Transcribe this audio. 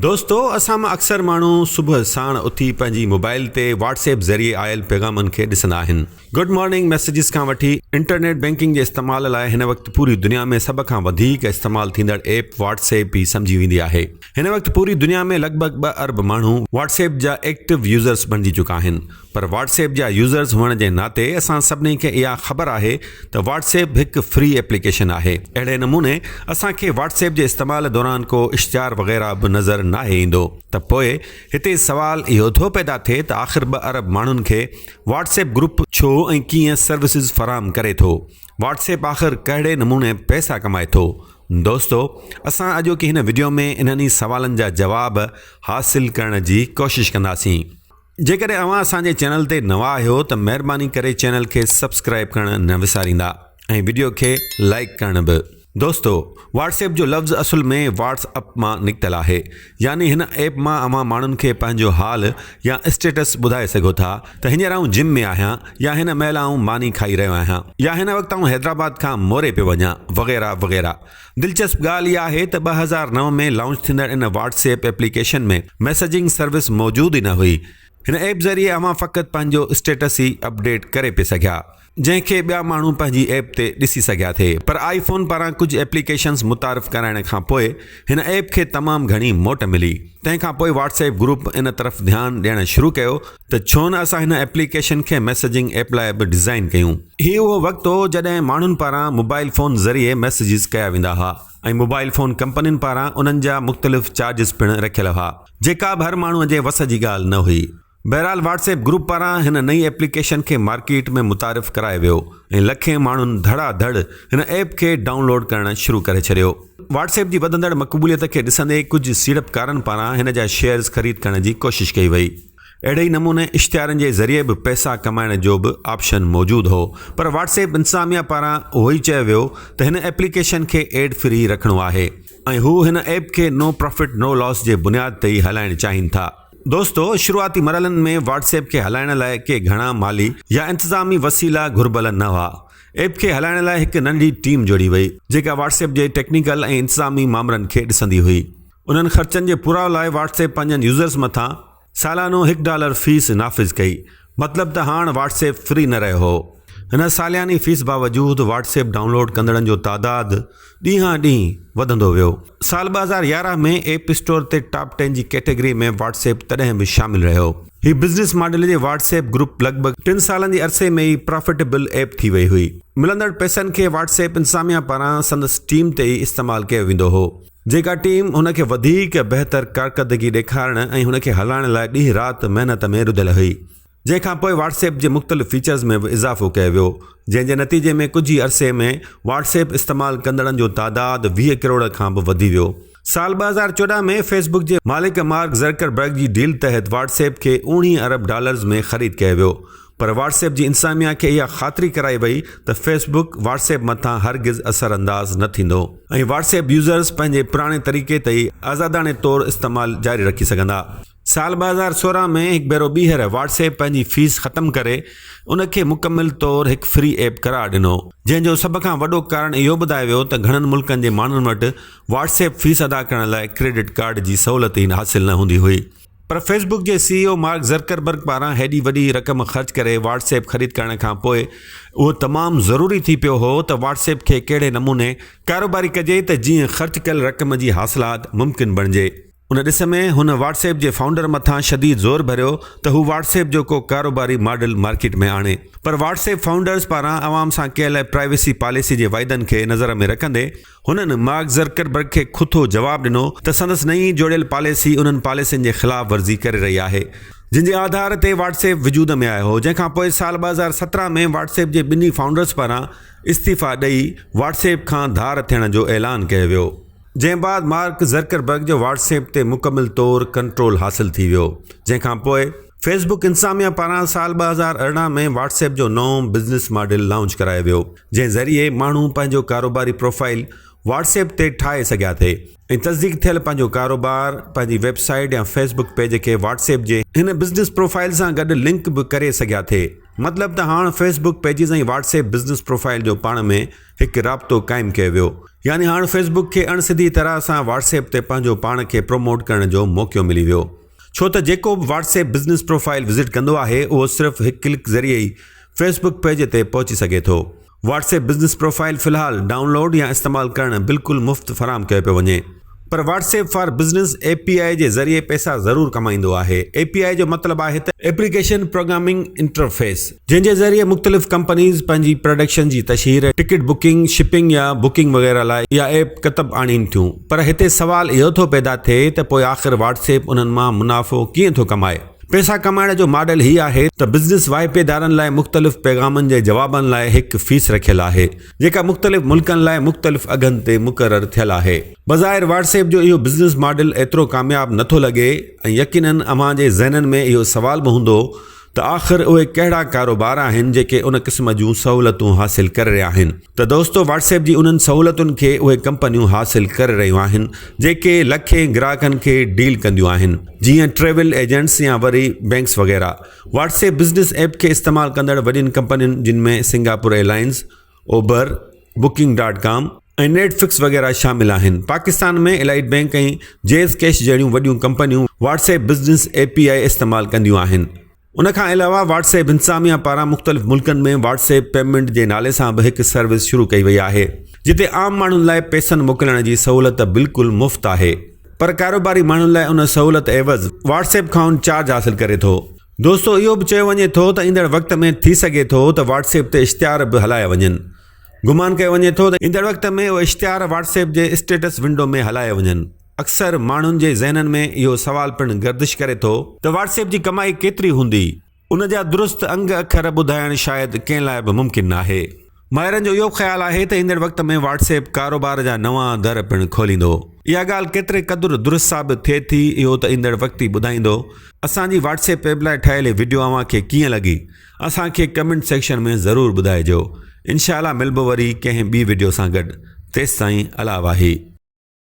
دوستو اسان مان اڪثر ماڻهو صبح ساڻ اٿي پنهنجي موبائل تي واٽس ايپ ذريعي آيل پيغامن کي ڏسندا آهن. گڊ مارننگ ميسيجز کان وٺي انٽرنيٽ بينڪنگ جي استعمال لاء هن وقت پوري دنيا ۾ سڀ کان وڌيڪ استعمال ٿيندڙ ايپ واٽس ايپ ئي سمجهي ويندي آهي. هن وقت پوري دنيا ۾ لڳ ڀڳ ٻه ارب ماڻهو واٽس ايپ جا ايڪٽو يوزرز بڻجي چڪا آهن. پر واٽس ايپ جا يوزرز هئڻ جي ناتي اسان سڀني کي اها خبر آهي ته واٽس ايپ هڪ فري ايپليڪيشن آهي اهڙي نموني اسان کي واٽس ايپ جي استعمال دوران ڪو اشتهار وغيره به نظر ناهي ايندو ته پوء هتي سوال اهو ٿو پيدا ٿئي ته آخر ٻه ارب ماڻهن کي واٽس ايپ گروپ ڇو ۽ ڪيئن سروسز فراهم ڪري ٿو واٽس ايپ آخر ڪهڙي نموني پئسا ڪمائي ٿو دوستو اسان اڄوڪي هن وڊيو ۾ انهن ئي سوالن جا جواب حاصل ڪرڻ جي ڪوشش ڪنداسين. جيڪڏهن اوهان اسان جي چينل تي نوان آهيو ته مهرباني ڪري چينل کي سبسڪرائب ڪرڻ نه وساريندا ۽ وڊيو کي لائيڪ ڪرڻ به. دوستو واٽس ايپ جو لفظ اصل ۾ واٽس اپ مان نڪتل آهي يعني هن ايپ مان اوهان ماڻهن کي پنهنجو حال يا اسٽيٽس ٻڌائي سگهو ٿا ته هينئر آئون جم ۾ آهيان يا هن مهل آئون ماني کائي رهيو آهيان يا هن وقت آئون حيدرآباد کان موري پيو وڃان وغيره وغيره دلچسپ ڳالهه اها آهي ته ٻه هزار نو ۾ لانچ ٿيندڙ ان WhatsApp application ۾ messaging service موجود ئي نه هئي. هن ايپ ذريعي اوهان فقط پنهنجو اسٽيٽس ئي اپڊيٽ ڪري پئي سگهيا، جنهن کي ٻيا ماڻهو پنهنجي ايپ تي ڏسي سگهيا ٿي پر آئي فون پاران ڪجهه ايپليڪيشنز متعارف ڪرائڻ کان پوء هن ايپ کي تمام گهڻي موٽ ملي تنهن کان پوء واٽس ايپ گروپ ان طرف ڌيان ڏيڻ شروع ڪيو ته ڇو نه اسان هن ايپليڪيشن کي ميسجنگ ايپ لاء به ڊزائين ڪيون. هي اهو وقت هو جڏهن ماڻهن پاران موبائيل فون ذريعي ميسجز ڪيا ويندا هئا ۽ موبائيل فون ڪمپنين پاران انهن جا مختلف چارجز پڻ رکيل هئا جيڪا به هر ماڻهو جي وس جي ڳالهه نه هئي. بهرحال واٽس ايپ گروپ پاران هن نئين ايپليڪيشن کي مارڪيٽ ۾ متعارف ڪرايو ويو ۽ لکين ماڻهن ڌڙا ڌڙ هن ايپ کي ڊائون لوڊ ڪرڻ شروع ڪري ڇڏيو. واٽس ايپ جي وڌندڙ مقبوليت کي ڏسندي ڪجهه سيڙپڪارن پاران هن جا شيئرز خريد ڪرڻ جي ڪوشش ڪئي وئي. اهڙي ئي نموني اشتهارن جي ذريعي به پئسا ڪمائڻ جو به آپشن موجود هو پر واٽس ايپ انتظاميا پاران اهو ئي چيو ويو ته هن ايپليڪيشن کي ايڊ فري رکڻو آهي ۽ هو هن ايپ کي نو پرافٽ نو لاس جي بنياد تي ئي هلائڻ چاهين ٿا. دوستو شروعاتي مرحلن ۾ واٽس ايپ کي هلائڻ لاء ڪي گهڻا مالي يا انتظامي وسيلا گهربل نه هئا. ايپ کي هلائڻ لاء هڪ ننڍي ٽيم جوڙي وئي جيڪا واٽس ايپ جي ٽيڪنيڪل ۽ انتظامي مامرن کي ڏسندي هئي. انهن خرچن جي پورائو لاء واٽس ايپ پنهنجن يوزرز مٿان سالانو هڪ ڊالر فيس نافذ ڪئي مطلب ته هاڻ واٽس ايپ فري نه رهيو هو. هن سالياني فيس باوجود واٽس ايپ ڊائونلوڊ ڪندڙن جو تعداد ڏينهان ڏينهن وڌندو ويو. سال ٻه هزار يارهن ۾ ايپ اسٽور تي ٽاپ ٽين جي ڪيٽيگري ۾ واٽس ايپ تڏهن به شامل رهيو. هي بزنس ماڊل جي واٽس ايپ گروپ لڳ ڀڳ ٽن سالن جي عرصي ۾ ئي پرافٽيبل ايپ ٿي وئي هئي. ملندڙ پئسن کي واٽس ايپ انتظاميا پاران سندس ٽيم تي ئي استعمال ڪيو ويندو هو. جيڪا ٽيم هن کي وڌيڪ بهتر ڪارڪردگي ڏيکارڻ ۽ هن کي هلائڻ لاء ڏينهن رات محنت ۾ رڌل هئي. جنهن کان پوء واٽس ايپ جي مختلف فيچرز ۾ به اضافو ڪيو ويو، جنهن جي نتيجي ۾ ڪجهه ئي عرصي ۾ واٽس ايپ استعمال ڪندڙن جو تعداد ويهه ڪروڙ کان به وڌي ويو. سال ٻه هزار چوڏهن ۾ فيس بڪ جي مالڪ مارڪ زرڪربرگ جي ڊيل تحت واٽس ايپ کي اوڻيهه ارب ڊالرز ۾ خريد ڪيو ويو. پر واٽس ايپ جي انتظاميا کي اها خاطري ڪرائي وئي ته فيس بڪ واٽس ايپ مٿان هرگز اثر انداز نه ٿيندو ۽ واٽس ايپ يوزرز پنهنجي پراڻي طريقي تي ئي آزاداڻي طور استعمال جاري رکي سگهندا. سال ٻه هزار سورهن ۾ هڪ ڀيرو ٻيهر واٽس ايپ پنهنجي فيس ختم ڪري ان کي مڪمل طور هڪ فري ايپ قرار ڏنو جنهن جو سڀ کان وڏو ڪارڻ اهو ٻڌايو ويو ته گهڻن ملڪن جي ماڻهن وٽ واٽس ايپ فيس ادا ڪرڻ لاء ڪريڊٽ ڪارڊ جي سهولت ئي حاصل نه هوندي هئي. پر فيس بڪ جي C E O Mark Zuckerberg پاران هيڏي وڏي رقم خرچ ڪري واٽس ايپ خريد ڪرڻ کان پوء اهو تمام ضروري ٿي پيو هو ته واٽس ايپ کي ڪهڙي نموني ڪاروباري ڪجي ته جيئن خرچ ڪيل رقم جي حاصلات ممڪن بڻجي. ان ڏس ۾ هن واٽس ايپ جي فائونڊر مٿان شديد زور ڀريو ته هو واٽس ايپ جو ڪو ڪاروباري ماڊل مارڪيٽ ۾ آڻي پر واٽس ايپ فائونڊرز پاران عوام سان ڪيل پرائيويسي پاليسي جي وعدن کي نظر ۾ رکندي هنن مارڪ زرڪربرگ کي کٿو جواب ڏنو ته سندس نئين جوڙيل پاليسي انهن پاليسين جي خلاف ورزي ڪري رهي آهي، جن جي آڌار تي واٽس ايپ وجود ۾ آيو هو، جنهن کان پوء سال ٻه هزار سترهن ۾ واٽس ايپ جي ٻنهي فائونڊرز پاران استعيفيٰ ڏئي واٽس ايپ کان ڌار ٿيڻ جو اعلان ڪيو ويو. جنهن بعد مارڪ زرڪربرگ جو واٽس ايپ تي مڪمل طور ڪنٽرول حاصل ٿي ويو، جنهن کان پوء. فيس بڪ انتظاميا پاران سال ٻه هزار ارڙهن ۾ واٽس ايپ جو نئون بزنس ماڊل لانچ ڪرايو ويو جنهن ذريعي ماڻهو پنهنجو ڪاروباري پروفائيل واٽس ايپ تي ٺاهي سگهيا ٿي ۽ تصديق ٿيل پنهنجو ڪاروبار پنهنجي ويب سائيٽ يا فيس بڪ پيج کي واٽس ايپ جي هن بزنس پروفائيل سان گڏ لنڪ به ڪري سگهيا ٿي مطلب ته هاڻ Facebook pages ۽ WhatsApp business profile جو پاڻ ۾ هڪ رابطو قائم ڪيو ويو يعني هاڻ فيس بڪ کي اڻ سڌي طرح سان واٽس ايپ تي پنهنجو پاڻ کي پروموٽ ڪرڻ جو موقعو ملي ويو ڇو ته جيڪو به WhatsApp business profile visit ڪندو آهي اهو صرف هڪ ڪلڪ ذريعي ئي فيس بڪ پيج تي پهچي سگهي ٿو. واٽس ايپ بزنس پروفائيل في الحال ڊائون لوڊ يا استعمال ڪرڻ بلڪل مفت فراهم ڪيو پيو وڃي. پر WhatsApp for business A P I جي ذريعي پئسا ضرور ڪمائيندو آهي. اي پي آء جو مطلب آهي ته. ايپليڪيشن پروگرامنگ انٽرفيس، جنهن جي ذريعي مختلف ڪمپنيز پنهنجي پراڊڪشن جي تشهير، ٽڪيٽ بڪنگ، شپنگ يا بڪنگ وغيره لاء اها ايپ ڪتب آڻين ٿيون پر هتي سوال اهو ٿو پيدا ٿئي ته پوء آخر واٽس ايپ انهن مان منافعو ڪيئن ٿو ڪمائي؟ پئسا ڪمائڻ جو ماڊل هي آهي ته بزنس واهپيدارن لاء مختلف پيغامن جي جوابن لاء هڪ فيس رکيل آهي جيڪا مختلف ملڪن لاء مختلف اگهن تي مقرر ٿيل آهي. بظاهر واٽس ايپ جو اهو بزنس ماڊل ايترو ڪامياب نه ٿو لڳي ۽ يقينن اوهان جي ذهنن ۾ اهو سوال به هوندو ته آخر اهي ڪهڙا ڪاروبار آهن جيڪي ان قسم جون سهولتون حاصل ڪري رهيا آهن ته دوستو واٽس ايپ جي انهن سهولتن کي اهي ڪمپنيون حاصل ڪري رهيون آهن جيڪي لکين گراهڪن کي ڊيل ڪنديون آهن جيئن ٽريول ايجنٽس يا وري بينڪس وغيره واٽس ايپ بزنس ايپ کي استعمال ڪندڙ وڏين ڪمپنين جن ۾ Singapore airlines Uber, booking dot com ۽ Netflix وغيره شامل آهن. Pakistan ۾ Allied Bank ۽ Jazz Cash جهڙيون وڏيون ڪمپنيون WhatsApp business A P I استعمال ڪنديون آهن. ان کان علاوه واٽس ايپ انتظاميا پاران مختلف ملڪن ۾ واٽس ايپ پيمنٽ جي نالي سان به هڪ سروس شروع ڪئي وئي آهي جتي عام ماڻهن لاء پيسن موڪلڻ جي سهولت بلڪل مفت آهي پر ڪاروباري ماڻهن لاء ان سهولت عيوض واٽس ايپ کانئن چارج حاصل ڪري ٿو. دوستو اهو به چيو وڃي ٿو ته ايندڙ وقت ۾ ٿي سگهي ٿو ته واٽس ايپ تي اشتهار به هلايا وڃن. گمان ڪيو وڃي ٿو ته ايندڙ وقت ۾ اهي اشتهار واٽس ايپ جي اسٽيٽس ونڊو ۾ هلايا وڃن. اڪثر ماڻهن جي ذهنن ۾ اهو سوال پڻ گردش ڪري ٿو ته واٽس ايپ جي ڪمائي ڪيتري هوندي؟ ان جا درست انگ اکر ٻڌائڻ شايد ڪنهن لاء به ممڪن ناهي. ماهرن جو اهو به خيال آهي ته ايندڙ وقت ۾ واٽس ايپ ڪاروبار جا نوان در پڻ کوليندو. اها ڳالهه ڪيتري قدر درست ثابت ٿئي ٿي اهو ته ايندڙ وقت ئي ٻڌائيندو. اسان جي واٽس ايپ ايپ لاء ٺاهيل هي وڊيو اوهان کي ڪيئن لڳي اسان کي ڪمينٽ سيڪشن ۾ ضرور ٻڌائجو. انشاء الله ملبو وري ڪنهن ٻي وڊيو سان گڏ تيستائين الا واهي.